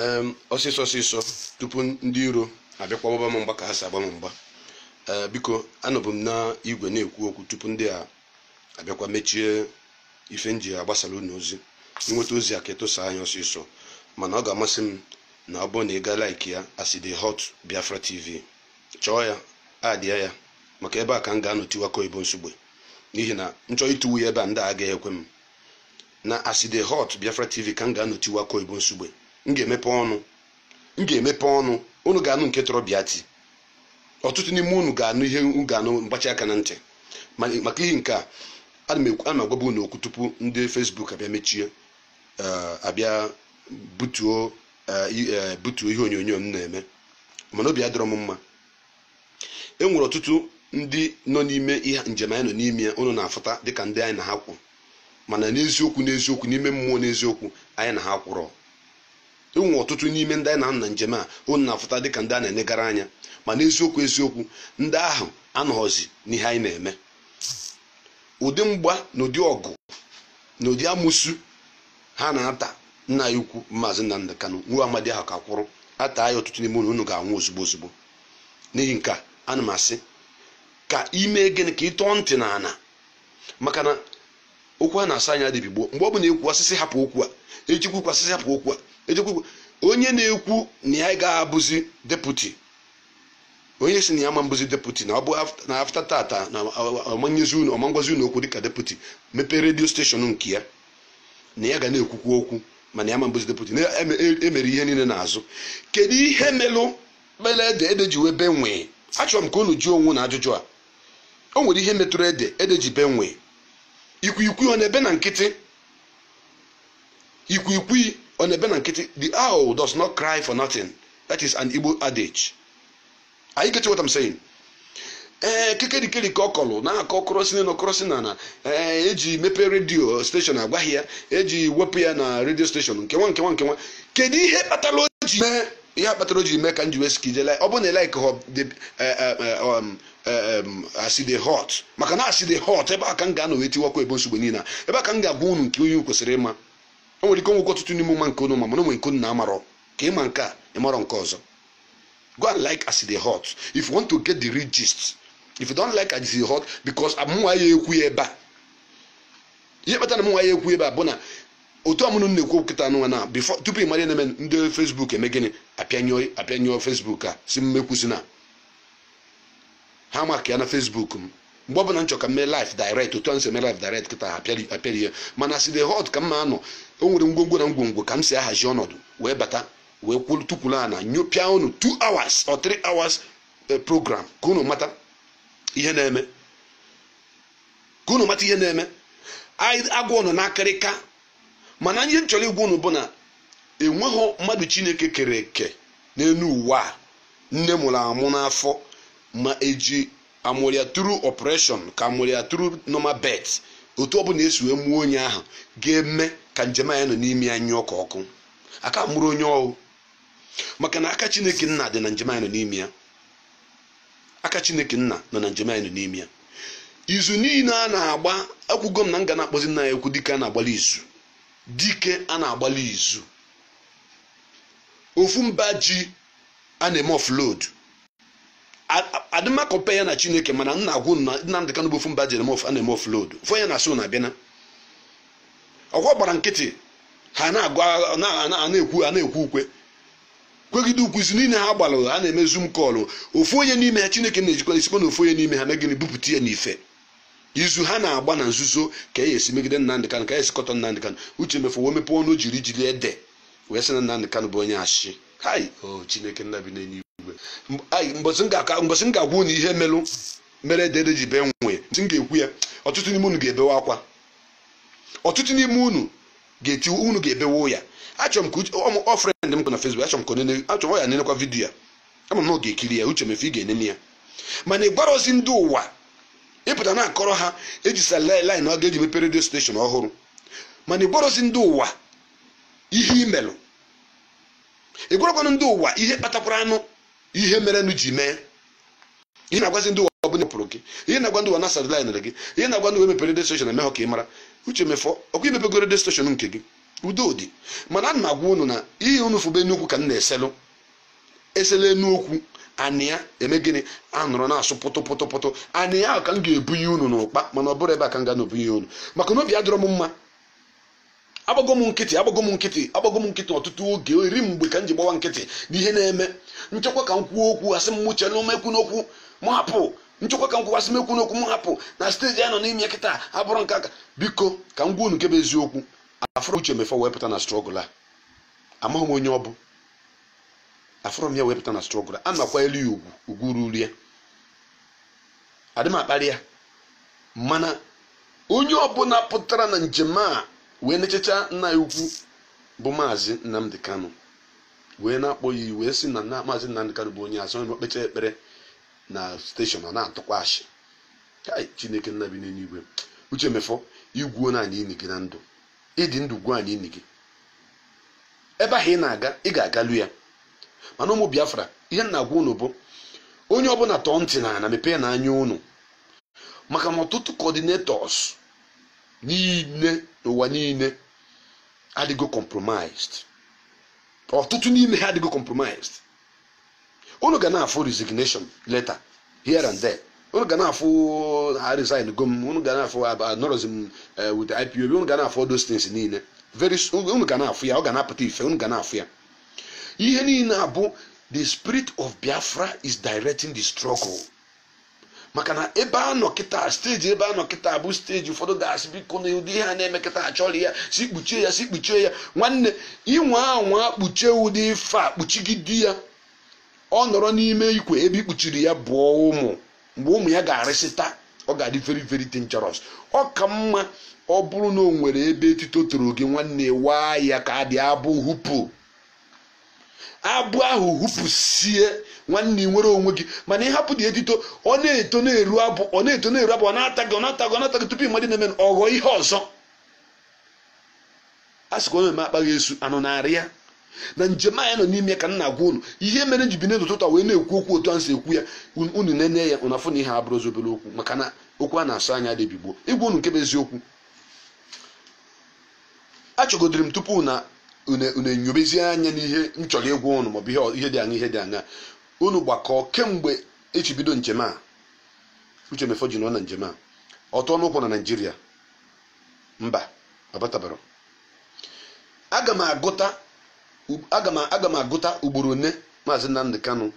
em ọsịsọ ọsịsọ tupu ndị iro abịakwa gbaba m mgba ka ha si agba m mgba ee biko anọbụ m na igwe na-ekwu okwu tupu ndị a abịakwa mechie ife m ji agbasara unu ozi i nweta ozi a ka ị tụsaa ya ọsịsọ mana ọ ga-amasị m na ọ bụrụ na ị gaa like ya as e dey hot biafra tv chọọ ya adịa ya maka ebe a ka m ga-anọ tiwa akụ oyibo Nsugbe n'ihi na m chọọ itiwa ya ebe a ndị a agaghị ekwe m na as e dey hot biafra tv ka m ga-anọ tiwa akụ oyibo Nsugbe m ga-emepe ọnụ m ga-emepe ọnụ unu ga-anụ nke tọrọ bịa ti ọtụtụ n'ime unu ga-anụ ihe unu ga-anụ mgbachi aka na ntị Ma- maka ihe nke a ana m ekwu- ana m agwaba unu okwu tupu ndị Facebook abịa mechie eh, abịa butuo eh, i- eh, butuo ihe onyonyo m na-eme mana obi adịrọ m mma e nwere ọtụtụ ndị nọ n'ime ihe njem anyị nọ n'ime ya ụnụ na-afụta dịka ndị anyị na ha kwụ mana n'eziokwu n'eziokwu n'ime mmụọ n'eziokwu anyị na ha akwụrọ e nwere ọtụtụ n'ime ndị anyị na ha nọ na njem a ụnụ na-afụta dịka ndị a na-enegara anya ma n'eziokwu eziokwu ndị ahụ anọghọzi n'ihe anyị na-eme ụdị mgba na ụdị ọgụ na ụdị amụsu ha na-ata nna anyị ukwu maazị Nnamdi Kanu nwa amadi ahụ ka kwụrụ ataa ya ọtụtụ n'ime unu unu ga-anwụ ozugbo ozugbo n'ihi nke a ana m asị ka i mee gịnị ka ị tọọ ntị na ana maka na okwu a na-asọ anya adị ebi gboo mgbe ọ bụla e kwuo a sị sị hapụ okwu a ejikwu ikwu a sị sị hapụ okwu a ejikwu ikwu onye na-ekwu na ya ga-abụzi deputy onye si na ya ma-abụzi deputy na ọ bụ af- na after tata na ọ ma-enyezi unu ọ ma-agwazi unu okwu dịka deputy mepee radio station nke ya na ya ga na-ekwukwu okwu mana ya ma-abụzi deputy na e mere ihe niile n'azụ kedu ihe melụ kpere ede ede ji wee bee nwịị achọrọ m ka unu jụọ onwe unu ajụjụ a o nwere ihe metụrụ ede ede ji bee nwịị ikwikwii ọ na-ebe na nkịtị ikwikwii ọ na-ebe na nkịtị the owl does not cry for nothing that is an Igbo adage are you getting what I'm saying ee kekerikeri ka ọ kọlụ na-akọ kọrọ sị na kọrọ sị na ee e ji mepee radio station agwaghị ya e ji wepụ ya na radio station nkewa nkewa nkewa kedu ihe kpatara o ji mee ihe kpatara o ji mee ka m ji wee sị ka i jee ọ bụ na ị like as e dey hot maka na as e dey hot ebe a ka m ga-anọ wee tiwa akụ oyibo Nsugbe niile a ebe a ka m ga-agwa unu nke onye kwesịrị ịma o nwere ike o nwekwa ọtụtụ n'ime ụma nke unu ma mana o nwere nke unu na-amarọ ka ị ma nke a ị marọ nke ọzọ go and like as e dey hot if you want to get the real gist if you don't like as e dey hot because amụnwa ya ekwu ya ebe a ihe kpatara na mụnwa ya ekwu ebe a bụ na otu ọmụnụ m na-ekwu kịta anụnwa na before tupu ị mara ihe na-eme ndị Facebook eme gịnị apịanyụọ apịanyụọ Facebook a sị m m ekwuzina maka ya na Facebook m mgbe ọbụla m chọrọ ka m mee live direct otu a m si eme live direct kịta ha apịari apịari ya mana as e dey hot ka m ma anọ o nwere ngwongwo na ngwongwo ka m si ahazi ọnọdụ wee bata wee kwolu tukwuru ana nyopịa unu 2 hours or 3 hours eh, program ka unu mata ihe na-eme ka unu mata ihe na-eme anyị agwa unu n'akịrịka mana ihe m chọrọ ịgwa unu bụ na enweghị mmadụ chineke kere eke n'elu ụwa a nne mụrụ amụ n'afọ ma eji a mụrụ ya through operation ka a mụrụ ya through normal birth otu ọ bụla e si wee mụọ onye ahụ ga-eme ka njem anyị nọ n'ime ya nyụọ ka ọkụ a ka amụrọ onye ọ wụ maka na aka chineke nna dị na njem anyị nọ n'ime ya aka chineke nna nọ na njem anyị nọ n'ime ya izu niile a na-agba ekwugo m na m ga na-akpọzi nna anyị ukwu dike a na-agbalụ izu dike a na-agbalụ izu ofu mba ji a na-eme offload adị m acompare ya na chineke mana m na-agwa unu na Nnamdi Kanu bụ ofu mba ji a na-eme offload fụ ya na so na bịana ọkwa gbara nkịtị ha na-agụ na-ekwu a na-ekwu ukwe kwegide ukwu izu niile ha gbalụ a na-eme zoom call ofu onye n'ime ha chineke na-ejikwa e sikwa na ofu onye n'ime ha mee gịnị bupụta ya n'ife izu ha na-agba na nzuzo ka e esi megide Nnamdi Kanu ka e esi kọtọọ Nnamdi Kanu Uche Mefor wee mepe ọnụ ji eri ji eri ede wee sị na Nnamdi Kanu bụ onye ashị kai o oh, chineke nna bi n'enu igwe mbọsị m ga-agwa unu ihe merụ mere ede ji bee nwii ntị m ga-ekwu ya ọtụtụ n'ime unu ga-ebewe akwa ọtụtụ n'ime unu ga-eti unu ga-ebewe ya achọrọ m ka ọ friend m na Facebook achọrọ m ka o nene achọrọ ya nenekwa video a ama m na ọ ga-ekiri ya Uche Mefor ị ga-enene ya mana ị gwarọzi ndị ụwa ị pụta na-akọrọ ha e ji sideline gị i ji mepere radio station ọhụrụ mana ị gwarọzi ndị ụwa ihe i melụ ị gwarọkwanụ ndị ụwa ihe kpatakwaranụ ihe merenụ ji mee ihe na-agwazi ndị ụwa ọ bụla pụrụ gị ihe na-agwa ndị ụwa na e sidelinere gị ihe na-agwa ndị ụwa mepere radio station eme ha ka ị mara Uche Mefor ọkwa i mepego radio station nke gị udo dị mana ana m agwa unu na ihe unu fụ bụ enu okwu ka m na-eselụ eselụ enu okwu anị ya eme gịnị anọrọ na-asụ pụtụ pụtụ pụtụ anị ya ahụ ka m ga-ebunye unu n'ụkpa mana ọ bụrọ ebe a ka m ga na-ebunye unu maka na obi adịrọ m mma agbago m nkịtị agbago m nkịtị agbago m nkịtị ọtụtụ oge eri mgbe ka m ji gbawa nkịtị n'ihe na-eme m chekwa ka m kwuo okwu asị m mụchie ọnụ m ekwuna okwu m hapụ m chekwa ka m kwuo asị m ekwuna okwu m hapụ na steji a nọ n'ime kịta abụrọ nke aka biko ka m gwa unu nke bụ eziokwu afụrọ m uche mefọ wee pụta na strọgụl a amaghị m onye ọ bụ afụrọ m ya wee pụta na strọgụl a a na-akwanyelu ya ugwu ugwu ruru ya adị m akparị ya mana onye ọbụla pụtara na njem a wee na-echecha nna ya ukwu bụ maazị Nnamdi Kanu wee na-akpọ ya wee sị na maazị Nnamdi Kanu bụ onye asị na o kpechaa ekpere na steshọn ọ na-atụkwa ashị Kai, chineke nna bi n'eluigwe uche mefọ i gwuona anyị ini gị na ndụ ị dị ndụ gwuo anyị ini gị ebe ahụ ị na-aga ị ga-agalu ya mana ụmụ biafra ihe m na-agwa unu bụ onye ọbụla tọọ ntị n'ana mepeenụ anya unu maka na ọtụtụ coordinators niile n'ụwa niile adịgo compromised ọtụtụ n'ime ha adịgo compromised unu ga na-afụ resignation letter here and there unu ga na-afụ a resign go m unu ga na-afụ anọrọzi m with ipob unu ga na-afụ all those things niile very soon unu ga na-afụ ya ọ ga na-apụta ife unu ga na-afụ ya ihe niile a bụ the spirit of biafra is directing the struggle maka na ebe a nọ kịta steji ebe a nọ kịta bụ steji ụfọdụ ga-asị biko na ụdị ihe a na-eme kịta achọrọ ya si kpuchie ya si kpuchie ya nwanne ị nwaa anwa kpuchie ụdị ife a kpuchigide ya ọ nọrọ n'ime ikwe ebe i kpuchiri ya bụọ ụmụ mgbe ụmụ ya ga-arịsịta ọ ga-adị very very dangerous ọ ka mma ọ bụrụ na o nwere ebe etito toro gị nwanne waa ya ka adị abụ hupu abụ ahụ hufusie nwanne ị nwere onwe gị mana ị hapụ ụdị etito ọ na-eto na-eru abụ ọ na-eto na-eru abụ ọ na-ata gị ọ na-ata gị ọ na-ata gị tupu ị mara ihe na-eme ọ ghọọ ihe ọzọ a sịkwa onye eme akpaghị esu anụ na-arị ya na njem anyị nọ n'ime ka m na-agwa unu ihe mere m ji binie n'ụtụtụ a wee na-ekwu okwu otu a m si ekwu ya unu nenee ya unu afụ na ihe a abụrọzi obere okwu maka na okwu a na-asọ anya adị ebi gboo ịgwa unu nke bụ eziokwu achọgodiri m tupu na unu unu enyobezie anya n'ihe m chọrọ ịgwa ụnụ maọbụ ihe ọ- ihe dị anya ihe dị anya unu gbakọọ kemgbe e ji bido njem a uche mefọ ji nọ na njem a ọ tụọna ụkwụ na naijiria mba ọ batabarọ aga m agụta u- aga m aga m agụta ugboro one maazị nnamdi kanu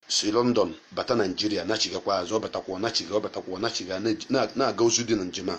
si london bata naijiria nachigakwa azụ ọ batakwa ọ nachiga ọ batakwa ọ nachiga na- na- na-aga ozi dị na njem a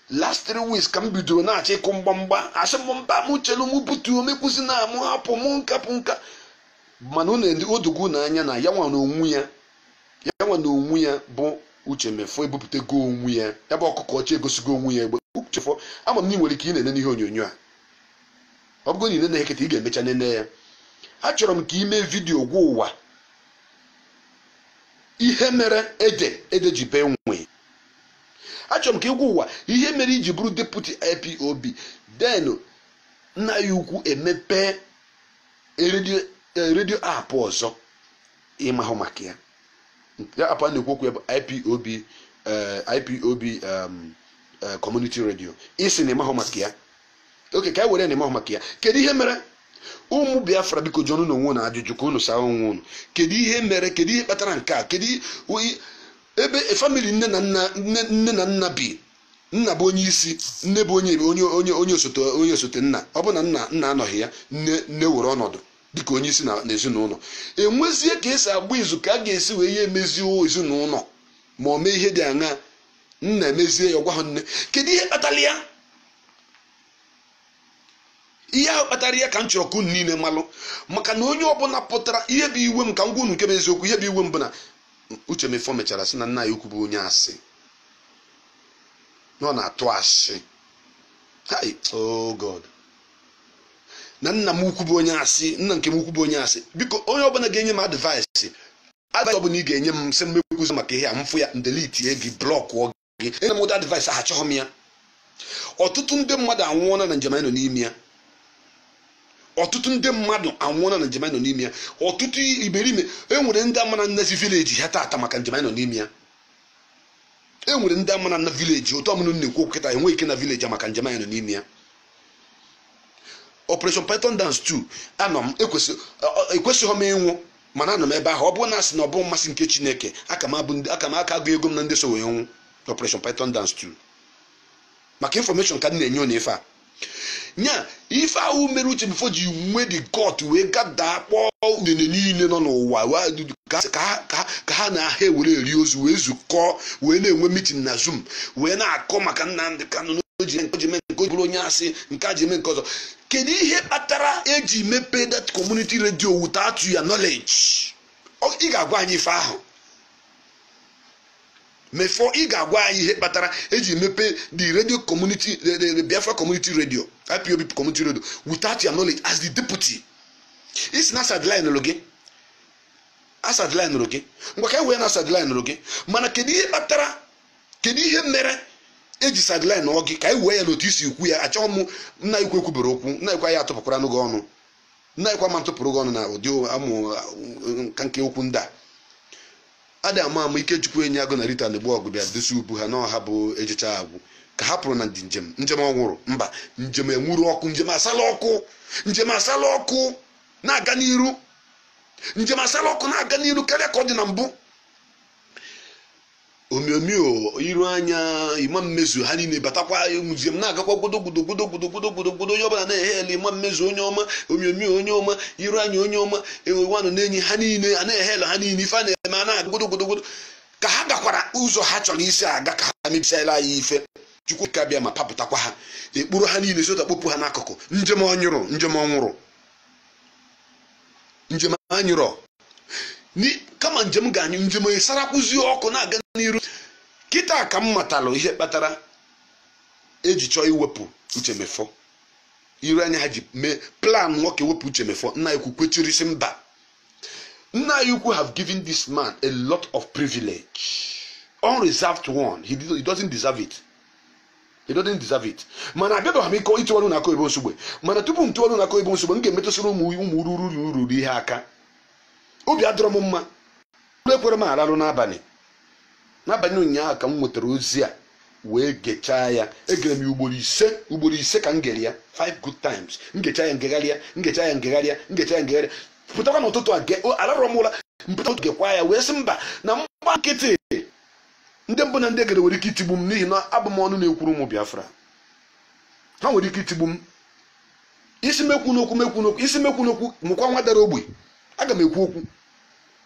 last three weeks ka m bidoro na-achọ ịkụ mgbamgba asị m mba m chelu m butuo m ekwuzina m hapụ m nkapụ nka mana unu ndị o dogo unu anya na ya nwa na onwe ya ya nwa na onwe ya bụ uche mefọ ebupụtago onwe ya ya bụ ọkụkọ ọcha egosigo onwe ya egbe uche mefọ ama m na ị nwere ike ị na-ene n'ihe onyonyo a ọ bụgo na ị na-ene kịta ị ga-emecha nene ya achọrọ m ka ị mee vidiyo gwa ụwa ihe mere ede ede ji bee nwe achọrọ m ka ị gwa ụwa ihe mere i ji bụrụ deputi ipob then nna ya ukwu emepee redio eh, redio app ọzọ ị mahụ maka ya ya app a na-ekwu okwu ya bụ ipob eh, ipob um, eh, community radio ị sị na ị mahụ maka ya okay ka e were na ị mahụ maka ya kedu ihe mere ụmụ biafra biko jụọnụ onwe unu ajụjụ ka unu saa onwe unu kedu ihe mere kedu ihe kpatara nke a kedu ebe famili nne na nna nne na nna bi nna bụ onye isi nne bụ onye onye onye onye osote onye osote nna ọ bụ na nna nna anọghị ya nne nne were ọnọdụ dịka onye isi na ezinụlọ e nwezie ka e si agba izu ka a ga-esi wee ya emezie ezinụlọ ma ọ mee ihe dị aṅa nna emezie ya ọ gwahụ nne kedu ihe kpatara ya ihe ahụ kpatara ya ka m chọrọ ka unu niile malụ maka na onye ọbụla pụtara ihe bụ iwe m ka m gwa unu nke bụ eziokwu ihe bụ iwe m bụ na uche mefọ mechara sị na nna ya ukwu bụ onye asị na ọ na-atụ asị hai oh god na nna m ukwu bụ onye asị nna nke m ukwu bụ onye asị biko onye ọbụla ga-enye m advice advice ọbụla ị ga-enye m sị m ekwuzi maka ihe a m fụ ya m delitie gị blọkụọ gị enye m ụdị advice ahụ achọghị m ya ọtụtụ ndị mmadụ anwụọla na njem anyị nọ n'ime ya ọtụtụ ndị mmadụ anwụọla na njem anyị nọ n'ime ya ọtụtụ imerime enwere ndị ama na-anazi vileji ha tata maka njem anyị nọ n'ime ya enwere ndị ama na-ana vileji otu a m nọ na-ekwu okwu kịta enweghị ike ịna vileji a maka njem anyị nọ n'ime ya operation python dance 2 anọ m ekwesị- ọ- ọ- ekwesịghị m ịnwụ mana anọ m ebe ahụ ọ bụrụ na a sị na ọ bụ mmasị nke chineke aka m abụ ndị- aka m aka agụnyego m na ndị so wee nwụ operation python dance 2 maka infọmeshọn ka m na-enye unu ife a nya ife ahụ mere uche mefọ ji nwee the gut wee gada kpọọ udene niile nọ n'ụwa wee- ka- ka ha- ka ha- ka ha na ha ewere eri ozu wee zukọọ wee na-enwe mitin na zoom wee na-akọ maka Nnamdị Kanụ na o ji eme nke o ji eme nke o ji bụrụ onye asị nke a ji eme nke ọzọ kedu ihe kpatara eji mepee that community radio without your knowledge Ọ- ị ga-agwa anyị ife ahụ mefọ ị ga-agwa anyị ihe kpatara eji mepe the radio community the, the, the biafra community radio ipob community radio without your knowledge as the deputy ị sị na a sideline lụ gị a sideline ụrụ gị ngwa ka e wee na a sideline ụrụ gị mana kedu ihe kpatara kedu ihe mere eji sideline ụọ gị ka anyị wee ya n'otu isi okwu ya achọghị m nna anyị ukwu ekwubere okwu nna ukwu anyị atụpụkwara n'oge ọnụ nna anyị ukwu ama atụpụrụ gị ọnụ na ụdị amụ nka nke okwu ndị a adị ama ama ikechukwu enyiagụ na rita anigbọgụ bịa dosi ubu ha na ọ ha bụ ejecha agwụ ka ha pụrụ na ndị njem njem ọ nwụrụ mba njem enwuru ọkụ njem asala ọkụ njem asala ọkụ na-aga n'iru njem asala ọkụ na-aga n'iru karịa ka ọ dị na mbụ omiomio iroanya emma mmezu ha niile batakwa njem na-agakwa gbodogodo gbodogodo gbodogodo gbodo onye ọbụla na-ehail emma mmezu onye ọma omiomio onye ọma iroanya onye ọma enwewanụ na-enye ha niile a na-ehail ha niile ife a na-eme a na-aga gbodogodo gbodo ka ha gakwara ụzọ ha chọrọ isi aga ka ha mebisiala anyị ife chukwu okike abịama kpapụtakwa ha ekpuru ha niile sota kpopụ ha n'akụkụ njem ọ nyụrụ njem ọ nwụrụ njem anyụrọ kama njem ga-anyụ njem esarakwuzie ọkụ na-aga n'iru kịta ka m matalụ ihe kpatara eji chọọ iwepụ uche mefor iroanya ha ji mee plan nwoke wepụ uche mefor nna anyị ukwu kwechiri sị mba nna anyị ukwu have given this man a lot of privilege unreserved one he, did, he doesn't deserve it He doesn't deserve it. Mana abịabeghị m ike ịtụwarụ na akụ ebe nsogbe mana tupu m tụwarụ na akụ ebe nsogbe m ga-emetụsịrị ụmụ ụmụ ruru ruru ruru ihe aka obi adọrọ m mma ụlọ ekwere m ararụ n'abalị n'abalị ụnyaahụ ka m nwetara ozi a wee gechaa ya egere m ya ugboro ise ugboro ise ka m gere ya five good times m gechaa ya ngegharịa m gechaa ya ngegharịa m gechaa ya ngegharịa pụtakwa n'ụtụtụ a ge- o- alarọ m ụla mpụta ụtụtụ gekwa ya wee sị mba na mgba nkịtị ndị mbụ na ndị egede nwere ike itigbu m n'ihi na abụ m ọnụ na-ekwuru ụmụ biafra ha nwere ike itigbu m ị sị m ekwuna okwu m ekwuna okwu ị sị m ekwuna okwu mụkwa nwa dara ogbe aga m ekwu okwu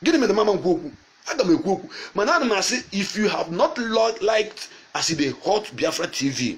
gịnị mere m ama ekwu okwu aga m ekwu okwu mana ana m asị if you have not liked as e dey hot biafra tv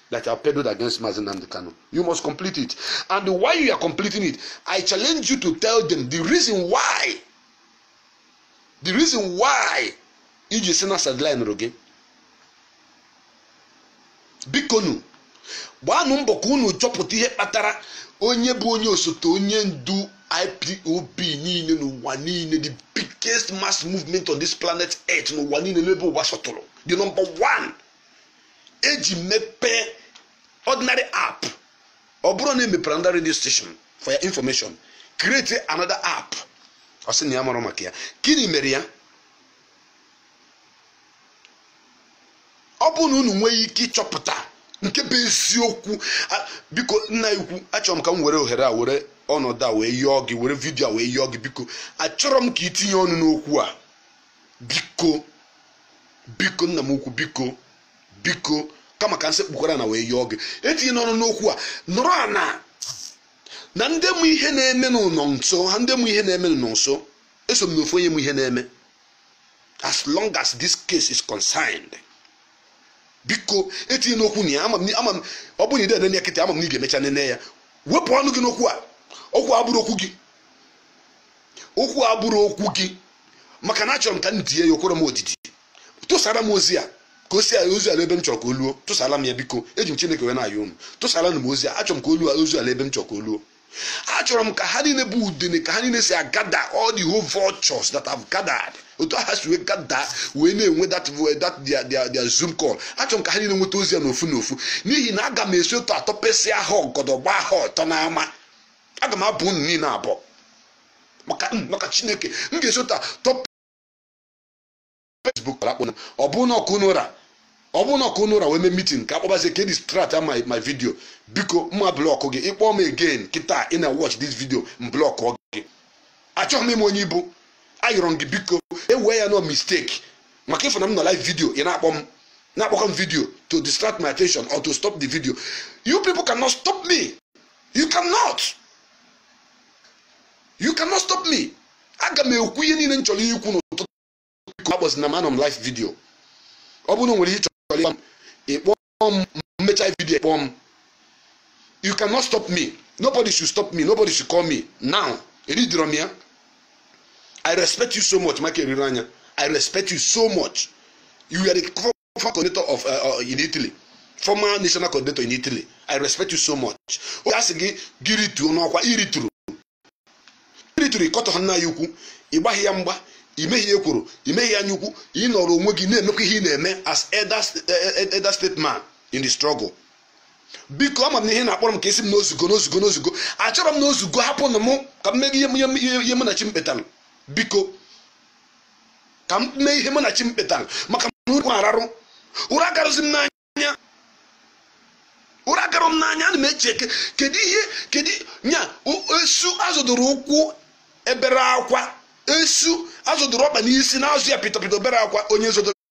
that are peddled against Mazi Nnamdi Kanu. You must complete it. And while you are completing it, I challenge you to tell them the reason why. The reason why i ji sị na a sideline ụrụ gị bikonu gbaanụ mbọ ka unu chọpụta ihe kpatara onye bụ onye osote onye ndu ipob niile n'ụwa niile the biggest mass movement on this planet earth n'ụwa niile n'ebe ụwa sọtụrụ the number one eji mepee ordinary app ọ bụrụ na emepere another radio station for your information create another app ọ sị na ya mara maka ya gịnị mere ya ọ bụrụ na unu nwee ike ịchọpụta nke bụ eziokwu biko nna ukwu achọrọ m ka m were ohere a were ọnọdụ a wee yọọ gị were vidio a wee yọọ gị biko achọrọ m ka i tinye ọnụ n'okwu a biko biko nna m ukwu biko biko kama ka m sekpukwara ana wee yọọ gị etinyena ọnụ n'okwu a nọrọ ana na ndị mụ ihe na-eme n'ụlọ nso ha ndị mụ ihe na-eme n'ụlọ nso eso m n'ofu onye mụ ihe na-eme as long as this case is concerned biko etinyena okwu na ya ama m ama m ọ bụrụ na ide nene ya kịta ama m na ị ga-emecha nene ya wepụ ọnụ gị n'okwu a okwu a abụrọ okwu gị okwu a abụrọ okwu gị maka na achọrọ m ka m die ya o kwerọ m odidi tụsara m ozi a ka o si ozu ala ebe m chọrọ ka o luo tụsara m ya biko eji m chineke wee na-ayọ unu tụsara m ozi a achọrọ m ka o luo ozu ala ebe m chọrọ ka o luo achọrọ m ka ha niile bụ udene ka ha niile si agather all the whole vultures that have gathered otu aha si wee gather wee na-enwe that that their their their zoom call achọrọ m ka ha niile nweta ozi a n'ofu n'ofu n'ihi na aga m esi otu atọpesịa ha ọgọdọ gbaa ha ọtọ n'ama aga m abọ unu niile abọ maka maka chineke m ga-esi ụta top facebook akpọ ọ bụrụ na ọkụ unu ụra ọ bụrụ na ọkụ unu ụra wee mee meeting ka akpọbazie ka e distract m my video biko m ma block gị ị kpọọ m again kịta ị na watch this video m block gị achọghị m ime onye ibu ayọrọ m gị biko ewee ya no mistake maka ị fụ na m nọ live video ị na-akpọ m na-akpọkọ m video to distract my attention or to stop the video you people cannot stop me you cannot you cannot stop me aga m ekwu ihe niile m chọrọ ikwu n'ụtụtụ a biko akpọzina m anọ m live video ọ bụrụ na o nwere ihe ị chọrọ ịgwa m ị kpọọ m m mechaa video ị kpọọ m you cannot stop me nobody should stop me nobody should call me now eridiro m ya i respect you so much mike iroanya i respect you so much you were the former coordinator of uh, uh, in Italy former national coordinator in Italy I respect you so much a sị gị gị rituo n'ọkwa i rituru i rituru ị kọtọghị nna anyị ukwu ị gbaghị ya mgba i meghị ya ekworo i meghị ya anya ukwu ị nọrọ onwe gị na-emekwa ihe ị na-eme as elder eh, eh, state man in the struggle biko ama m na ihe ị na-akpọrọ m ka ị sị m na o zugo na o zugo na o zugo achọrọ m na o zugo hapụnụ m ka m mee ihe mụ na chi m kpetara biko ka m mee ihe mụ na chi m kpetara maka na ụra ararọ ụra agarọzi m n'anya ụra agarọ m n'anya ana m eche eke kedu ihe kedu nya esu a zọdoro ụkwụ eberọ akwa esu a zọdoro ọkpa n'isi na-azọ ya pịtọpịtọ eberọ akwa onye zọdoro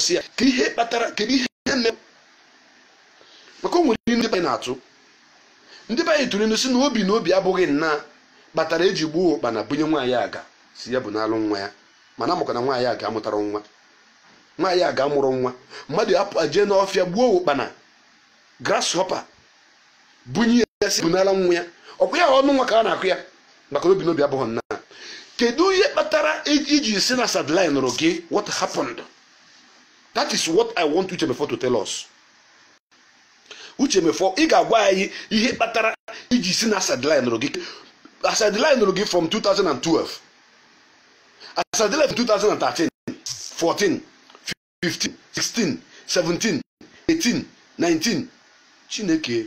si ya ka ihe kpatara kedu ihe mere maka o nwere ihe ndị be na-atụ ndị be anyị tụrụ inu si na obi na obi abụghị nna kpatara eji gbuo ụkpana bunye nwaanyị aga si ya bunalụ nwa ya mana a makwa na nwaanyị aga amụtarọ nwa nwaanyị aga amụrọ nwa mmadụ apụ jee n'ọfịa gbuo ụkpana grasshopper bunye ya si bunala nwa ya ọkwa ya ọnụ nwa ka a na-akọ ya maka na obi na obi abụghị nna kedu ihe kpatara iji si na a sideline nụrụ gị what happened that is what i want uche mefo to tell us uche mefo ị ga-agwa anyị ihe kpatara iji si na a sideline nụrụ gị a sideline nụrụ gị from 2012 a sideline 2013 14 15 16 17 18 19 chineke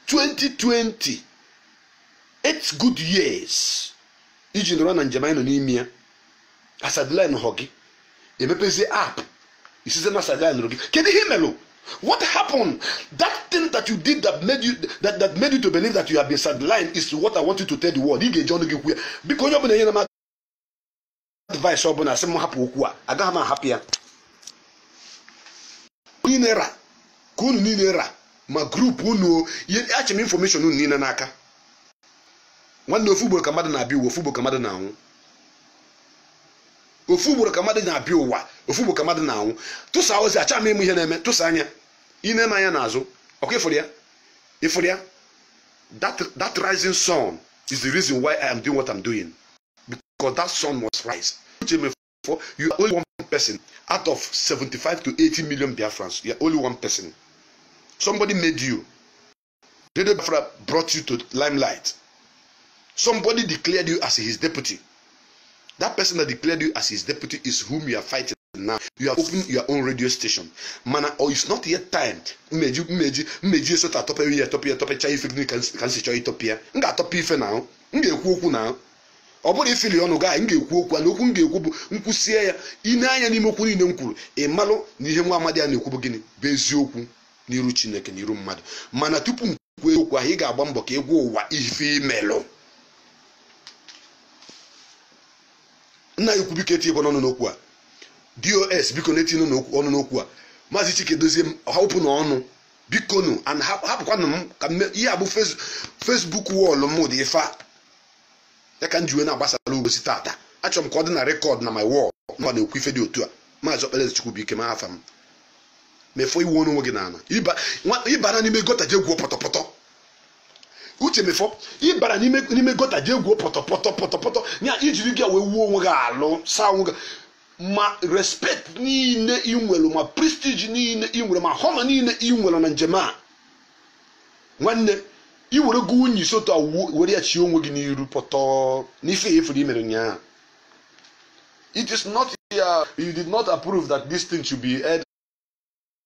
2020 8 good years iji nọrọ na njem anyị nọ n'ime ya asideline họ gị emepezie app ị sizie na a sideline nụrụ gị kedu ihe melụ What happened? That thing that you did that made you that, that made you to believe that you have been sidelined is what I want you to tell the world. Ị ga-eji ọnụ gị kwuo ya. Biko onye ọbụla enyena m advice ọ bụla sị m hapụ okwu a agaghị m ahapụ ya niile ra ka unu niile ra ma group unu achị m information unu niile n'aka nwanne ofu ugboro ka mmadụ na-abịa ụwa ofu ugboro ka mmadụ na-anwụ ofu ugboro ka mmadụ na-abịa ụwa ofu ugboro ka mmadụ na-anwụ tụsa ozi achọ m ịma ihe na-eme tụsa anya ị na-ene anya n'azụ ọkwa ịfụrụ ya ịfụrụ ya that rising sun is the reason why I am doing what I'm doing. because that sun must rise uche mefo you are only one person out of 75 to 80 million biafrans you are only one person somebody made you radio biafra brought you to limelight somebody declared you as his deputy that person that declared you as his deputy is whom you are fighting now you have opened your own radio station mana or it's not yet time mmeji mmeji mmeji esota atọpere ya atọpịa atọpịcha ife gịnị ka m si chọọ ịtọpịa m ga-atọpịa ife na ahụ m ga-ekwu okwu na ọ bụrụ ifili ọnụ gị m ga-ekwu okwu na okwu m ga-ekwu bụ m kwusie ya i nee anya n'ime okwu niile m kwuru ị malụ na ihe nwa amadi a na-ekwu bụ gịnị bụ eziokwu n'iru chineke n'iru mmadụ mana tupu m kwuo eziokwu ahụ ị ga-agba mbọ ka ịgwa ụwa ife imelụ nna ukwu biko etinyena ọnụ n'okwu a dos biko unu etinyena ọnụ n'okwu a maazị chika edoziem hapụ na ọnụ bikonu and hap- hapụkwanụ m ka mme- ihe a bụ fes- facebook wall m dị ife a ya ka m ji wee na-agbasara unu ozi tata achọrọ m ka ọ dị na record na my wall na m na-ekwu ife dị otu a maazị ọkpalaeze chukwubuikem afa m mefọ iwu onwe gị n'ana Ịba- nwa- ịbara n'ime gutter je gwuo pọtọpọtọ uche mefọ ịbara n'ime n'ime gutter je gwuo pọtọpọtọ pọtọpọtọ ya ijiri ya wee wụọ onwe gị alụ saa onwe gị ma respect niile ị nwere ma prestige niile ị nwere ma honor niile ị nwere na njem a nwanne i were go unyi isi otu a wuo- were ya chie onwe gị n'iru pọtọ n'ifi ife imere ụnyaahụ it is not ya you did not approve that this thing should be aired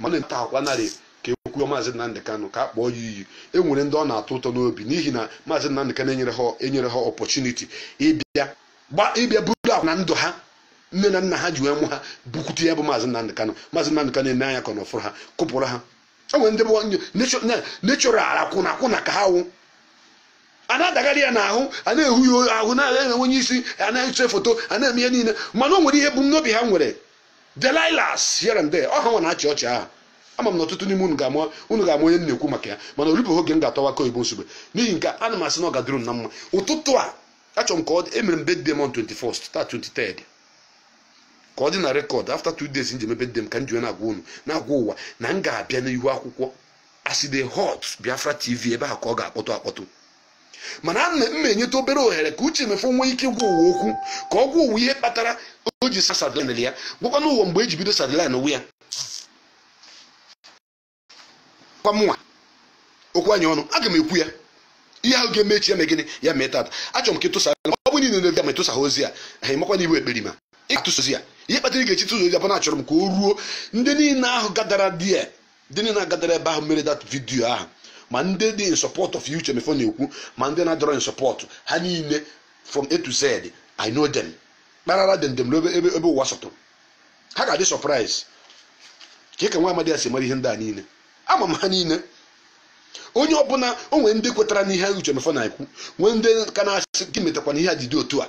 mana nta akwa narị ka ekwuo maazị Nnamdị Kanụ ka a kpọọ ya iyi e nwere ndị ọ na-atọ ụtọ n'obi n'ihi na maazị Nnamdị Kanụ enyere ha enyere ha opportunity ịbịa gba ịbịa buru akwa na ndụ ha nne na nna ha ji wee mụ ha bukwute ya bụ maazị Nnamdị Kanụ maazị Nnamdị Kanụ ene anya ka ọ nọfụrụ ha kụpụrụ ha e nwere ndị bụ natural akwụna akwụna ka ha wụ a na-adagharị ya n'ahụ a na-ehu ya ahụ na-enwe onye isi a na-ese foto a na-eme ihe niile mana o nwere ihe ebumnobi ha nwere Delilahs here and there ọ ha nwa na-achị ọchị ahụ ama m na ọtụtụ n'ime unu ga-ama unu ga-ama onye m na-ekwu maka ya mana o rubeghị oge m ga-atọwa akụ oyibo Nsugbe n'ihi nke a, ana m asị na ọ ga-adịrị unu na mma ụtụtụ a achọrọ m ka ọ dị emere m birthday m on 21st taa 23rd ka ọ dị na record after two days m ji mee birthday m ka m ji wee na-agwa unu na-agwa ụwa na m ga-abịa n'ihu akwụkwọ aside hot biafra tv ebe a ka ọ ga-akpọtụ akpọtụ mana a na- m na-enyeta obere ohere ka Uche Mefor nwee ike gwa ụwa okwu ka ọ gwa ụwa ihe kpatara o ji sa- sideline ya gwakwanụ ụwa mgbe e ji bido sidelinewe ya kwa mụnwa okwu anyị ọnụ aga m ekwu ya ihe ahụ ga-eme echi ya mee gịnị ya mee tata achọrọ m ka ịtụsa ọ bụ niile na-ebi ya ma ịtụsa ha ozi ya ha ị makwa na ị wụ ekperima ị ga-atụsa ozi ya ihe kpatara ị ga-eji tụsa ozi ya bụ na achọrọ m ka o ruo ndị niile ahụ gadara di ya ndị niile na-agadara ebe ahụ mere that video ahụ ma ndị dị in support of Uche Mefor na-ekwu ma ndị na-adịrọ in support ha niile from A to Z I know them kparara dem dem ebe ebe ebe ụwa sọtụrụ ha ga-adị surprise kee ka nwa amadi a si mara ihe ndị a niile ama m ha niile onye ọbụla o nwere ndị kwetara n'ihe Uche Mefor na-ekwu nwee ndị ka na-asị gịnị metakwanụ ihe a ji dị otu a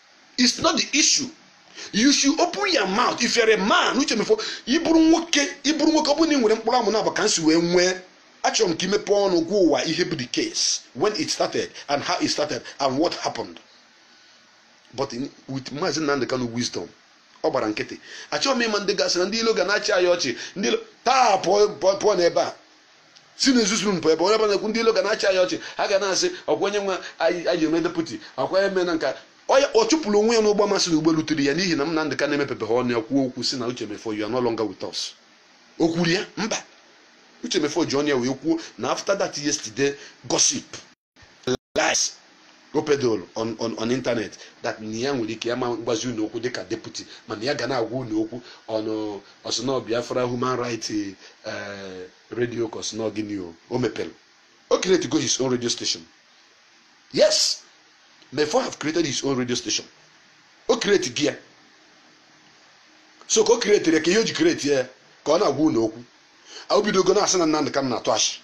it's not the issue you should open your mouth if you're a man Uche Mefor ị bụrụ nwoke ị bụrụ nwoke ọ bụrụ na ị nwere mkpụrụ amụ naabọ ka m si wee nwee achọrọ m ka i mepee ọnụ gwa ụwa ihe bụ the case when it started and how it started and what happened but in, with Maazị Nnamdi Kanu wisdom ọ gbara nkịtị achọghị m ịma ndị ga-asị na ndị ilo ga na-achị anyị ọchị ndị ilo taa pụọ pụọ n'ebe a si na ezuzu mpụ ebe onye ọbụla ekwu ndị ilo ga na-achị anyị ọchị ha ga na-asị ọkwa onye nwa anyị eme deputy ọkwa eme na nka ọ chụpụrụ onwe ya n'ụgbọ ma sị na ụgbọ eluterọ ya n'ihi na Nnamdi Kanu emepebeghị ọnụ ya kwuo okwu sị na Uche Mefor you are no longer with us o kwuru ya mba Uche Mefor ji ọnụ ya wee kwuo na after that yesterday gossip lies o peddle on on on internet that na ya nwere ike ya ama agwazi unu okwu dịka deputy mana ya ga na-agwa unu okwu ọnụ ọ sị na ọ biafra human rights eh, radio ka ọ sị na ọ gịnị o o mepere o create go his own radio station yes Mefor have created his own radio station o create go ya so ka o create ya ka ihe o ji create ya ka ọ na-agwa unu okwu o bidogo na-asị na Nnamdị Kanụ na-atụ asị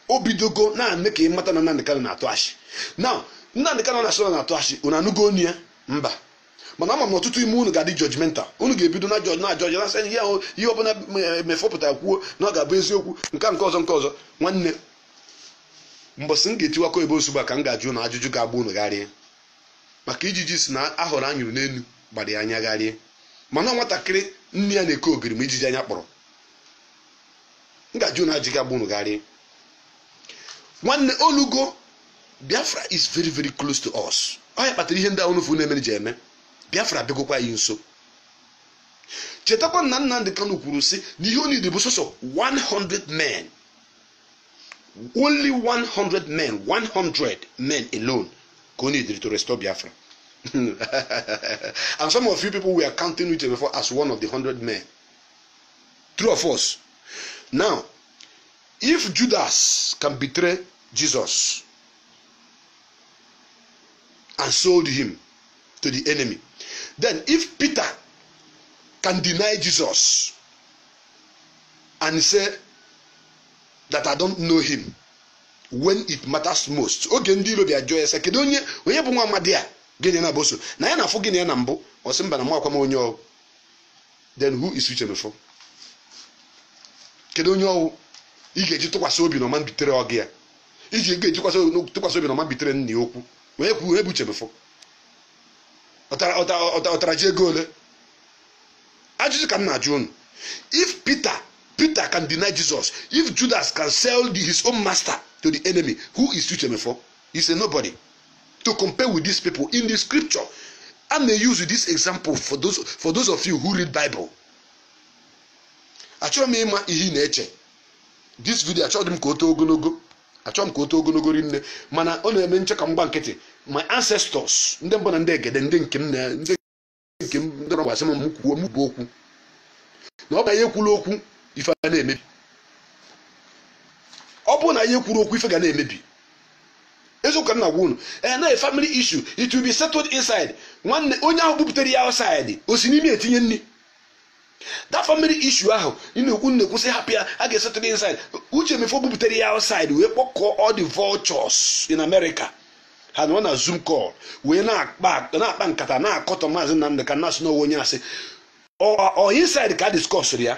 o bidogo na-eme ka ị mata na Nnamdi Kanu na-atụ ashị na Nnamdi Kanu na-asị na na-atụ ashị unu anụgo onu ya mba mana ama m na ọtụtụ ime unu ga-adị judgmental unu ga-ebido na-judge na-judge na sị ihe ahụ ihe ọbụla Mefo pụta kwuo na ọ ga-abụ eziokwu nke nke ọzọ nke ọzọ nwanne mbọsị m ga-etiwakọ ebe ozugbo a ka m ga-ajụ unu ajụjụ ga-agba unu gharịị maka ijiji sị na ahụrụ a nyụrụ n'elu gbara ya anya gharịị mana nwatakịrị nne ya na-eke ogiri ma ijiji anya kpọrọ m ga-ajụ unu ajụjụ ga-agba unu gharịị nwanne olugo biafra is very very close to us ọ ya kpatara ihe ndị ahụ unu fụ na-emere ji eme biafra bịagokwa anyị nso chetakwa na nnamdi kanu kwuru sị na ihe o needịrị bụ sọsọ 100 men only 100 men 100 men alone ka o needịrị to restore biafra and some of you people were counting mefo as one of the 100 men true or false now if judas can betray jesus and sold him to the enemy then if peter can deny jesus and say that i don't know him when it matters most oge ndị ilo bịa jụọ ya sị kedu onye onye bụ nwa amadi a gị na ya bu so na anyị na-afụ gị na ya na mbụ ọ sị mba na amakwa m onye ọ wụ then who is uche mefo kedu onye ọ wụ ị ga-eji tụkwasị obi na ọ ma betray ọga ya ị ga-eji tụkwasị obi na ọ ma betray nna ya ukwu onye kwuru onye bụ uche mefo ọ tara ji ego ole ajụjụ ka m na-ajụ unu if peter peter can deny jesus if judas can sell the, his own master to the enemy who is uche mefo he's a nobody to compare with these people in the scripture i may use this example for those for those of you who read bible achọrọ m ịma ihe ị na-eche this video achọghị m ka o too ogologo achọghị m ka o too ogologo rinne mana ọ na-eme m chee ka m gba nkịtị my ancestors ndị mbụ na ndị egede ndị nke m na ndị nke m ndị ọrụ gwasị m m kwuo m bụ okwu na ọ bụ na ya ekwuro okwu ife ga na-emebi ọ bụrụ na ya ekwuro okwu ife ga na-emebi eziokwu ka m na-agwa unu ee na family issue it will be settled inside nwanne onye ahụ bupụtara ya outside o si n'imi etinye nri that family issue ahụ ị na-ekwu na-ekwu sị hapụ ya a ga-esettle inside uche mefo bupụtara ya outside wee kpọkọọ all the vultures in America ha nọ na zoom call wee na-akpa na-akpa nkata na-akọtọ maazị Nnamdi Kanu na-asị na ọ wụ onye asị ọ ọ inside ka a discussiri ya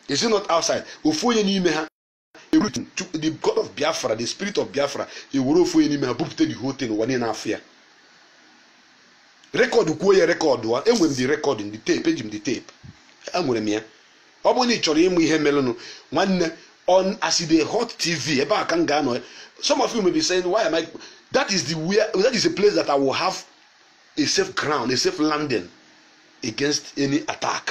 is it not outside ofu onye n'ime ha everything to the god of biafra the spirit of biafra ewere ofu onye n'ime ha bupụta the whole thing ụwa niile afụ ya rekọdụkwuo ya record a enwere m the record the tape eji m the tape enwere m ya ọ bụrụ na ị chọrọ ịma ihe merenụ nwanne on as e dey hot tv ebe a ka m ga-anọ ya some of you may be saying why am i that is the where that is a place that i will have a safe ground a safe landing against any attack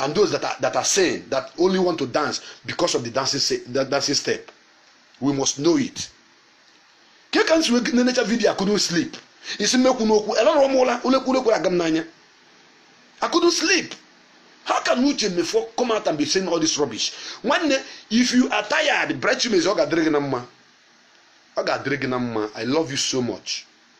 and those that are, that are sane that only want to dance because of the dancing, the dancing step. We must know it. Ke ka m si wee nenecha video I couldn't sleep. Isi mmekwu n'okwu alarọ m ụla ụla ekwe ụla ekwerọ aga m n'anya. I couldn't sleep. How can Uche Mefor come out and be saying all this rubbish? Nwanne, if you are tired, Bright Chimezie ọ ga-adịrị gị na mma. Ọ ga-adịrị gị na mma. I love you so much.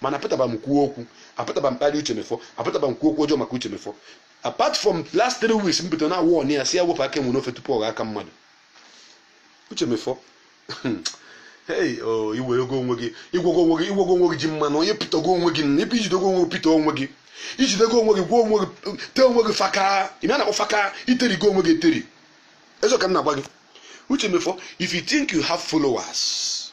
mana apụtaba m kwuo okwu apụtaba m kparịa uche mefor apụtaba m kwuo okwu ọjọọ maka uche mefor apart from last three weeks m pụtara na-awọnị ya sị ya wepụ aka enwe n'ofe tupu ọ ghọọ aka mmadụ uche mefor hey o iwerego onwe gị igwogo onwe gị igwogo onwe gị ji mmanụ onye pịtago onwe gị nna ibe ijidogo onwe gị pịta onwe gị ijidego onwe gị gwuo onwe gị tee onwe gị faka ihe a na-akpọ faka iterigo onwe gị eteri eziokwu ka m na-agwa gị uche mefor if you think you have followers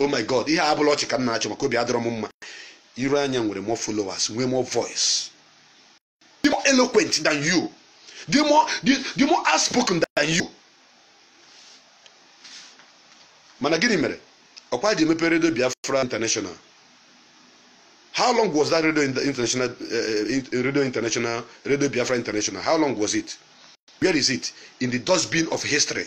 oh my god ihe a abụrọ ọchị ka m na-achị maka obi adịrọ m mma iroanya nwere more followers nwee more voice the more eloquent than you the more the, the more outspoken than you mana gịnị mere ọkwa jee mepe radio biafra international how long was that radio international uh, radio international radio biafra international how long was it where is it in the dustbin of history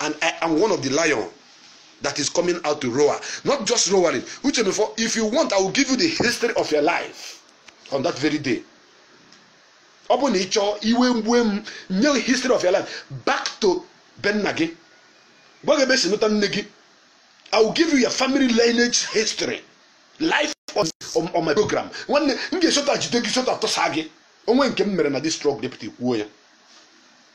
and I am one of the lion that is coming out to roar. Not just roaring. Uche Mefor, if you want, I will give you the history of your life on that very day. ọ bụ na ị chọọ iwe mgbu m nye history of your life back to be nna gị gwa gị ebe e si nụta nne gị i will give you your family lineage history live on, on, on my program nwanne m ga-esota jide gị sota tụsa gị o nwee nke m mere na this truck deputy kwuo ya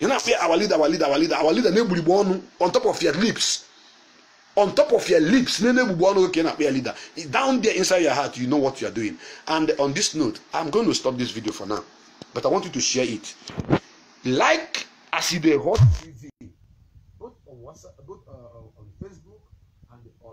ị na-afụ ya our leader our leader our leader our leader na-egburigbo ọnụ on top of your lips on top of your lips na na-egbugbo ọnụ ka ị na-akpọ ya leader down there inside your heart you know what you are doing and on this note i'm going to stop this video for now but i want you to share it like as e dey hot tv both on whatsapp both uh, on facebook and on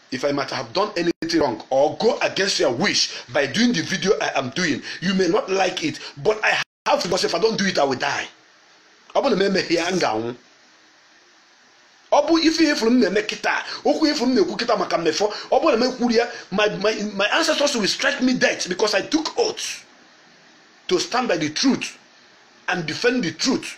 if I might have done anything wrong or go against your wish by doing the video I am doing, you may not like it, but I have to because if I don't do it, I will die. ọ bụ na m emeghị ya m ga-anwụ ọ bụ ife ihe ị fụrụ m na-eme kịta okwu ị fụrụ m na-ekwu kịta maka mefor ọ bụrụ na m ekwurọ ya my my my ancestors will strike me dead because I took oath to stand by the truth and defend the truth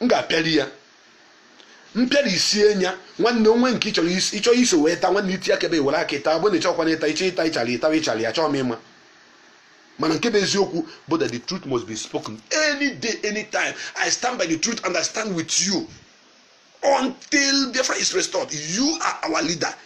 m ga-apịali ya mpịara isie nya nwanne o nwee nke ị chọrọ isi ịchọ iso wee taa nwanne iti akebe were aka ịta bụ na ịchọkwana ịta ịchọ ịta ịchara ịtara ịchara ya chọọ m ịma mana nke bụ eziokwu bụ that the truth must be spoken any day any time i stand by the truth and i stand with you until biafra is restored you are our leader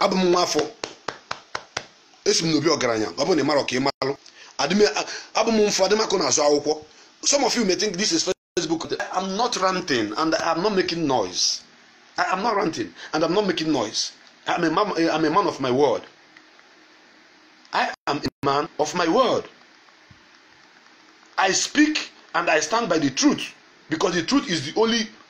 abụ m nwa afọ esi m n'obi ọgaranya ọ bụrụ na ị marọ ka ị malụ abụ m mfụ adịmakụ n'azụ akwụkwọ some of you may think this is Facebook I'm not ranting and I'm not making noise I'm not ranting and I'm not making noise I'm a man of my word I am a man of my word I speak and I stand by the truth because the truth is the only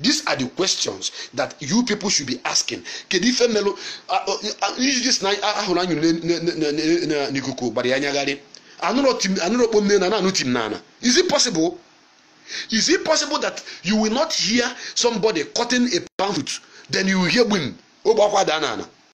these are the questions that you people should be asking kedu ife melụ ijiji sị na ahụrụ anyụ n'ikuku gbara ya gharịị anụrọ kpom n'enu anụ tim na ana is it possible is it possible that you will not hear somebody cutting a palm fruit then you hear gbim ogbe akwụ adaa na ana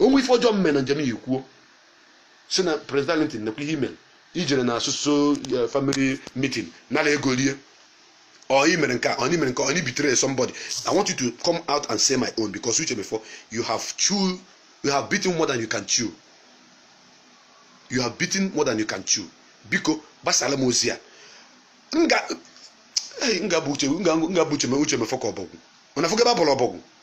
o nwee ife ọjọọ m me na njem ya kwuo sị na Prince Darlington nekwa ihe i mere i jere na so so eh, family meeting nara ego rie or i mere nke a or i mere nke a, or i betray somebody i want you to come out and say my own because Uche Mefor you have bitten more than you can chew you have bitten more than you can chew biko gbasara m ozi a m ga- eh, m ga-abọ Uche m ga- m ga-abọ Uche Me Uche Mefor ka ọbọgwụ unu afụgo ebe a bọrọ ọbọgwụ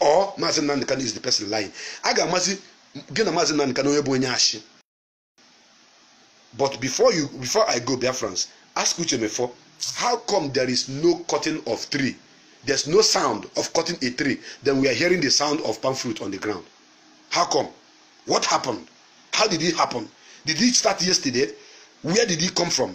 ọ maazị Nnamdi Kanu is the person lying a ga-amazi gị na maazị Nnamdi Kanu onye bụ onye ashị but before you before I go Biafrans ask Uche Mefo how come there is no cutting of tree there's no sound of cutting a tree then we are hearing the sound of palm fruit on the ground how come what happened how did it happen did it start yesterday where did it come from